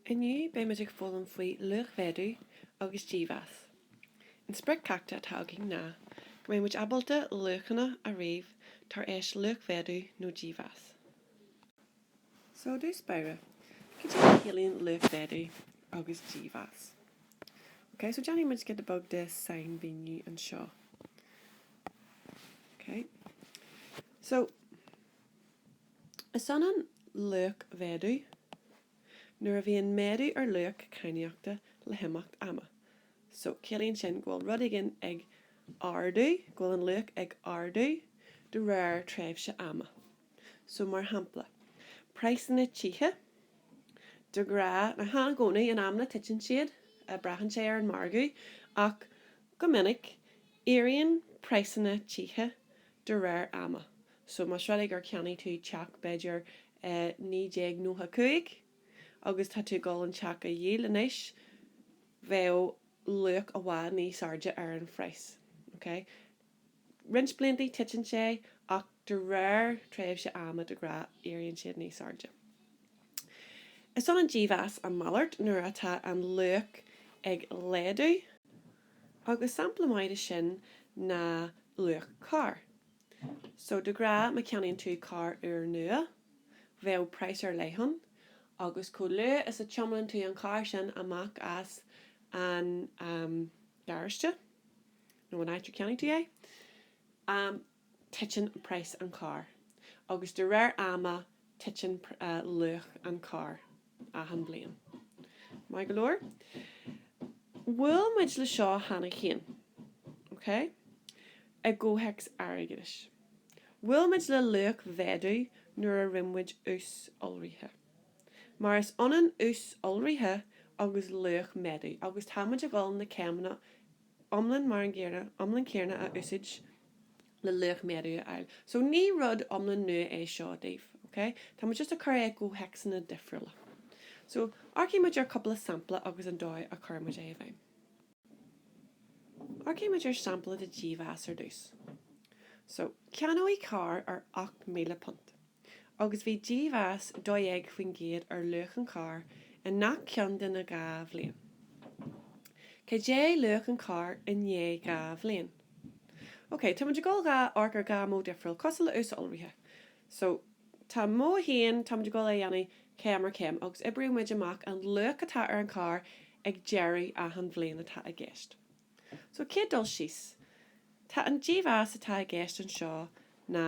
Inniu beimid ag foghlaim faoi luachmhéadú agus dímheas. An sprioc ceachta atá againn ná go mbeidh muid ábalta luachanna a ríomh tar éis luachmhéadú nó dímheas. So, i dtús báire, cad é a chiallaíonn luachmhéadú agus dímheas? Ok, so déanfaidh muid giota beag de shainmhíniú anseo. Ok. So, Is ionann luachmhéadú, nuair a bhíonn méadú ar luach cainníochta le himeacht ama. So, ciallaíonn sin go bhfuil rud éigin ag ardú, go bhfuil an luach ag ardú de réir tréimhse ama. So, mar shampla, praghsanna tithe, de ghnáth, ní i gcónaí, in amanna titeann siad, braitheann sé ar an margadh, ach go minic éiríonn praghsanna tithe de réir ama. So más rud é gur cheannaigh tú teach, b'fhéidir, i 1995 agus tá tú ag dul an teach a dhíol anois, bheadh luach i bhfad níos airde ar an phraghas. Ok? Roinnt blianta, titeann sé ach de réir tréimhse ama, de ghnáth, éiríonn siad níos airde. Is ionann dímheas a malairt nuair atá an luach ag laghdú agus sampla maith de sin ná luach cairr. So de ghnáth má cheannaíonn tú carr úr nua, bheadh price ar leith ann, agus chomh luath is a thiománann tú an carr sin amach as an gharáiste, nó an áit ar cheannaigh tú é, titeann price an chairr, agus de réir ama titeann luach an chairr achan bhliain. Maith go leor. Bhuail muid le seo cheana féin. OK? I gcomhthéacs airgeadais. Bhuail muid le luachmhéadú nuair a rinne muid ús iolraithe. Mar is ionann ús iolraithe agus luachmhéadú agus tá muid ag dul na céimeanna iomlán mar an gcéanna, iomlán céanna a úsáid le luachmhéadú a fháil. So ní rud iomlán nua é seo daoibh, ok? Tá muid just ag cur é i gcomhthéacsanna difriúla. So amharcfaidh muid ar chúpla sampla agus an dóigh a gcuir muid é i bhfeidhm. Amharcfaidh muid ar shampla de dhímheas ar dtús. So ceannaíodh carr ar ocht míle punt. agus bhí dímheas 12% ar luach an chairr i ngach ceann de na dhá bhliain. Cad é luach an chairr i ndiaidh dhá bhliain? OK, táimid ag dul a dh'amharc ar dhá mhodh dhifriúla, cosúil le ús iolraithe. So, tá modh 1, táimid ag dul é a dhéanamh céim ar chéim, agus oibreoidh muid amach an luach atá ar an chairr ag deireadh achan bhliain atá i gceist. So, chéad dul síos, tá an dímheas atá i gceist anseo ná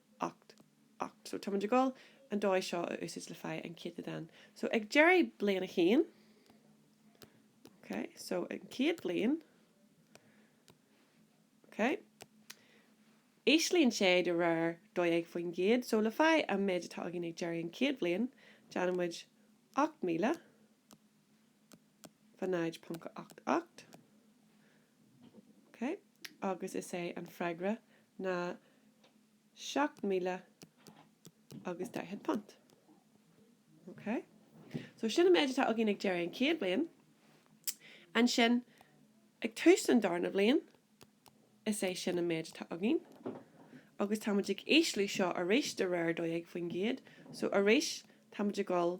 8 8 so táimid ag dul an dóigh seo a úsáid le fáil an céatadán so ag deireadh bliain 1 ok so an chéad bliain ok íslíonn sé de réir 12% so le fáil an méid atá againn ag deireadh an chéad bhliain déanaimid 8000 0.88 ok agus is é an freagra ná seacht míle agus daichead punt, ok. So sin an méid atá againn ag deireadh an chéad bhliain. Ansin, ag tús an darna bhliain, is é sin an méid atá againn. Agus táimid ag ísliú seo arís de réir 12%, so arís táimid ag dul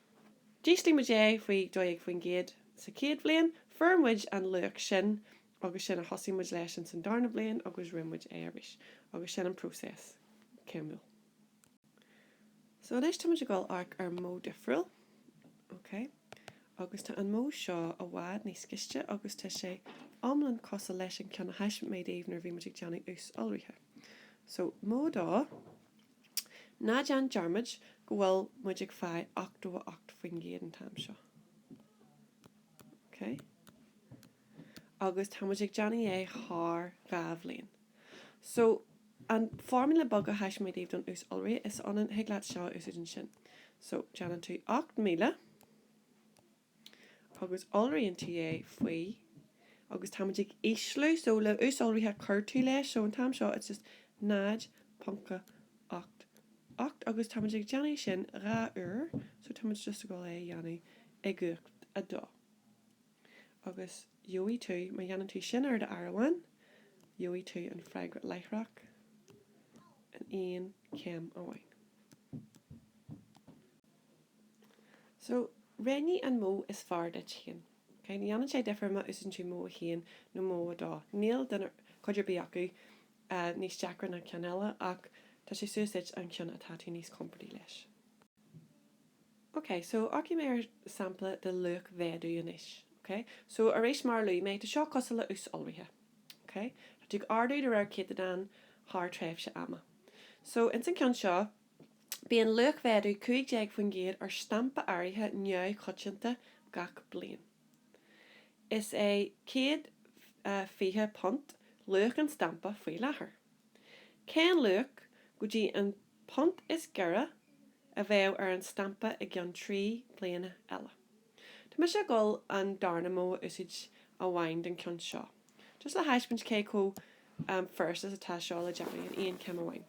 D'ísligh muid é faoi 12% sa chéad bhliain, fuair muid an luach sin agus sin a thosaigh muid leis ins an darna bliain agus rinne muid é arís agus sin an próiseas céimiúil. So anois táimid ag dul amharc ar modh difriúil, ok, agus tá an modh seo i bhfad níos ciste agus tá sé iomlán cosúil leis an ceann a thaispeáin mé daoibh nuair a bhí muid ag déanamh ús iolraithe. So modh a dó. Ná déan dearmad go bhfuil muid ag fáil 88% an t-am seo. Okay? Agus tá muid ag déanamh é thar dhá bhliain. So, an formula beag a thaispeáin mé daoibh don ús iolraithe, is ionann, thig leat seo a úsáid ansin. So, déanann tú 8000 agus iolraíonn tú é faoi agus táimid ag ísliú so le ús iolraithe cuir tú leis so an t-am seo it's just 0.88 agus táimid ag déanamh sin dhá uair so táimid just ag dul é a dhéanamh i gcumhacht a dó agus gheobhaidh tú má dhéanann tú sin ar do áireamhán gheobhaidh tú an freagra láithreach in aon chéim amháin. So, roghnaigh an modh is fearr duit féin. Ní dhéanann sé difir má úsaideann tú modh 1 nó modh 2. Níl aon chuid ar bith acu níos deacra ná ceann eile ach tá sé suas duit an ceann atá tú níos compordaí leis. OK, so amharcfaidh mé ar sampla de luachmhéadú anois. OK? So, arís mar a luaigh mé, tá seo cosúil le ús iolraithe. OK? Tá tú ag ardú de réir céatadán thar tréimhse ama. So, ins an ceann seo, Bíonn luachmhéadú 15% ar stampa áirithe neamhchoitianta gach bliain. Is é £120 luach an stampa faoi láthair. Cén luach, go dtí an punt is giorra, a bheadh ar an stampa i gceann trí bliana eile? Tá mise ag dul an darna modh a úsáid amháin don ceann seo, just le thaispeáint cé chomh furast is atá seo le déanamh in aon chéim amháin.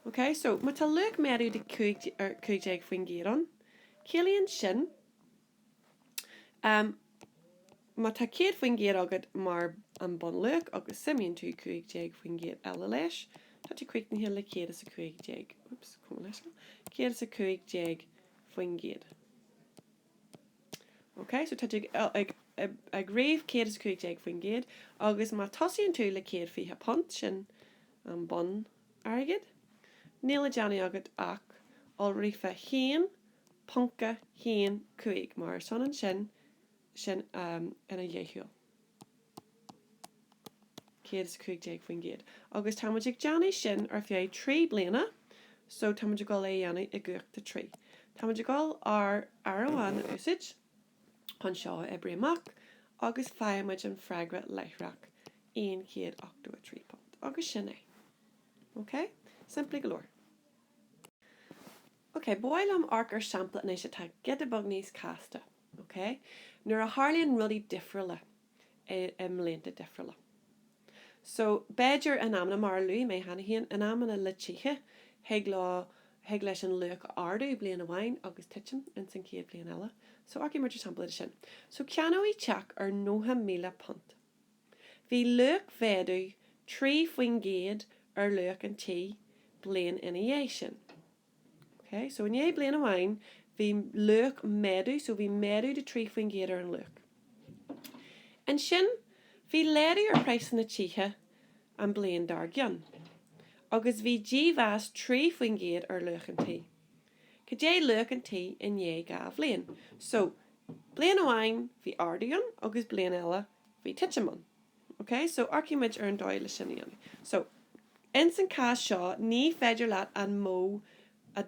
OK, so má tá luachmhéadú de 15% ann, ciallaíonn sin, em, má tá 100% agat mar an bunluach agus suimíonn tú 15% eile leis, tá tú críochnaithe le céad is a cúig déag, oops, cuma leis sin, céad is a cúig déag faoin gcéad. OK, so tá tú ag ríomh 115%, agus má tosaíonn tú le céad fiche punt, sin an bun airgead, níl le déanamh agat ach iolrú fá haon ponca haon cúig, mar is ionann sin sin ina dheachúil. 115%. Agus tá muid ag déanamh sin ar feadh trí bliana so tá muid ag dul é dhéanamh i gcumhacht a trí. Tá muid ag dul ár n-áireamhán a úsáid chun seo a oibriú amach agus faigheann muid an freagra láithreach. 183 punt. Agus sin é. OK? Simplí go leor. OK, ba mhaith liom amharc ar shampla anois atá giota beag níos casta. OK? Nuair a tharlaíonn rudaí difriúla i mblianta difriúla. So, b'fhéidir in amanna, mar a luaigh mé cheana féin, in amanna le tithe, thig leo, thig leis an luach ardú bliain amháin agus titim ins an chéad bhliain eile. So, amharcfaidh muid ar sampla de sin. So, ceannaíodh teach ar nócha míle punt. Bhí luachmhéadú trí faoin gcéad ar luach an tí bliain ina dhiaidh sin. OK, so i ndiaidh bliain amháin, bhí luachmhéadú, so bhí méadú de 3 faoin gcéad ar an luach. Ansin, bhí laghdú ar praghsanna tithe an bliain dár gcionn, agus bhí dímheas 3 faoin gcéad ar luach an tí. Cad é luach an tí i ndiaidh dhá bhliain? So, bliain amháin, bhí ardú ann, agus bliain eile, bhí titim ann. Ok, so amharcfaidh muid ar an dóigh le sin a dhéanamh. So, ins an cás seo, ní féidir leat an modh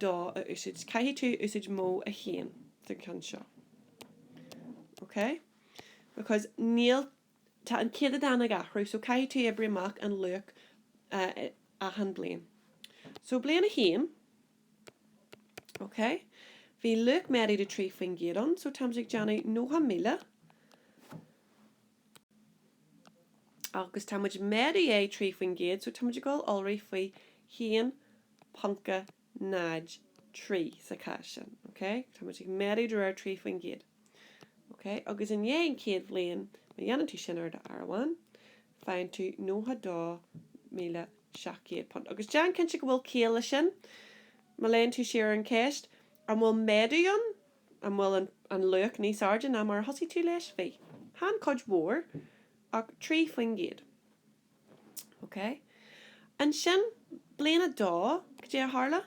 2 a úsáid. Caithfidh tú úsáid modh 1 sa cheann seo. Ok? Because níl, tá an céatadán ag athrú, so caithfidh tú oibriú amach an luach achan bhliain. So, bliain 1, ok, bhí luachmhéadú de 3% ann, so tá muid ag déanamh 90,000. agus tá muid ag méadú de 3% so tá muid ag dul iolrú faoi 1.03 sa chás sin, ok, tá muid ag méadú de réir 3%, ok, agus i ndiaidh an chéad bhliain, má dhéanann tú sin ar do áireamhán, faigheann tú £92,700. Agus déan cinnte go bhfuil ciall leis sin, má léann tú siar ar an cheist, an bhfuil méadú ann? an bhfuil an luach níos airde ná mar a thosaigh tú leis? Bhí. Chan cuid mhór, ach trí faoin gcéad. Ok. Ansin, bliain a dó, cad é a tharla?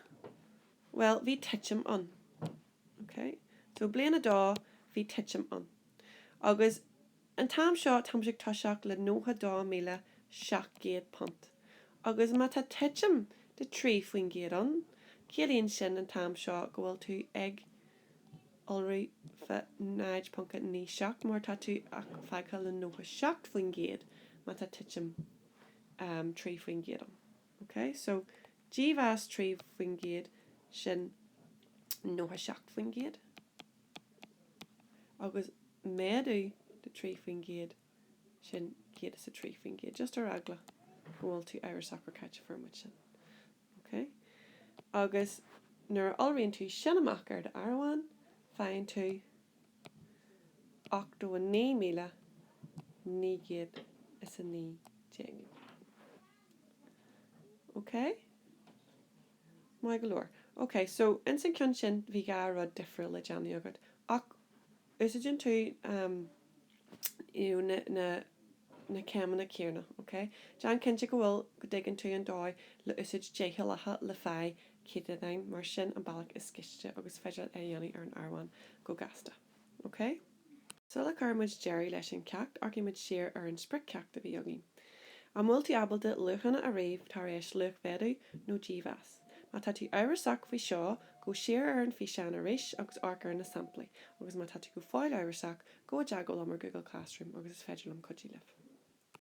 Bhuel, bhí titim ann. Ok. So, bliain a dó, bhí titim ann. Agus. An t-am seo táimse ag toiseacht le nócha dó míle seacht gcéad punt, agus má tá titim de trí faoin gcéad ann, ciallaíonn sin an t-am seo go bhfuil tú ag iolrú faoi 0.97, mar tá tú ach fágtha le nócha seacht faoin gcéad má tá titim trí faoin gcéad ann. OK? So, dímheas trí faoin gcéad, sin nócha seacht faoin gcéad. agus méadú de 3 faoin gcéad, sin céad is a trí faoin gcéad, just ar eagla go bhfuil tú amhrasach ar cá háit a bhfuair muid sin, ok? agus nuair a iolraíonn tú sin amach ar do áireamhán, faigheann tú 89,919, ok? Maith go leor. OK, so ins an ceann sin bhí dhá rud difriúil le déanamh agat. Ach úsáideann tú em na, na, na céimeanna céanna, OK? Déan cinnte go bhfuil, go dtuigeann tú an dóigh le úsáid deachúlacha le fáil céatadáin, mar sin an bealach is gaiste agus is féidir é a dhéanamh ar an áireamhán go gasta. OK? Sula gcuireann muid deireadh leis an cheacht, amharcfaidh muid siar ar an sprioc-cheacht a bhí againn. An bhfuil tú ábalta luachanna a ríomh tar éis luachmhéadú nó dímheas? Má tá tú amhrasach faoi seo, gabh siar ar an bhfíseán arís agus amharc ar na samplaí, agus má tá tú go fóill amhrasach, gabh i dteagmháil liom ar Google Classroom agus is féidir liom cuidiú libh.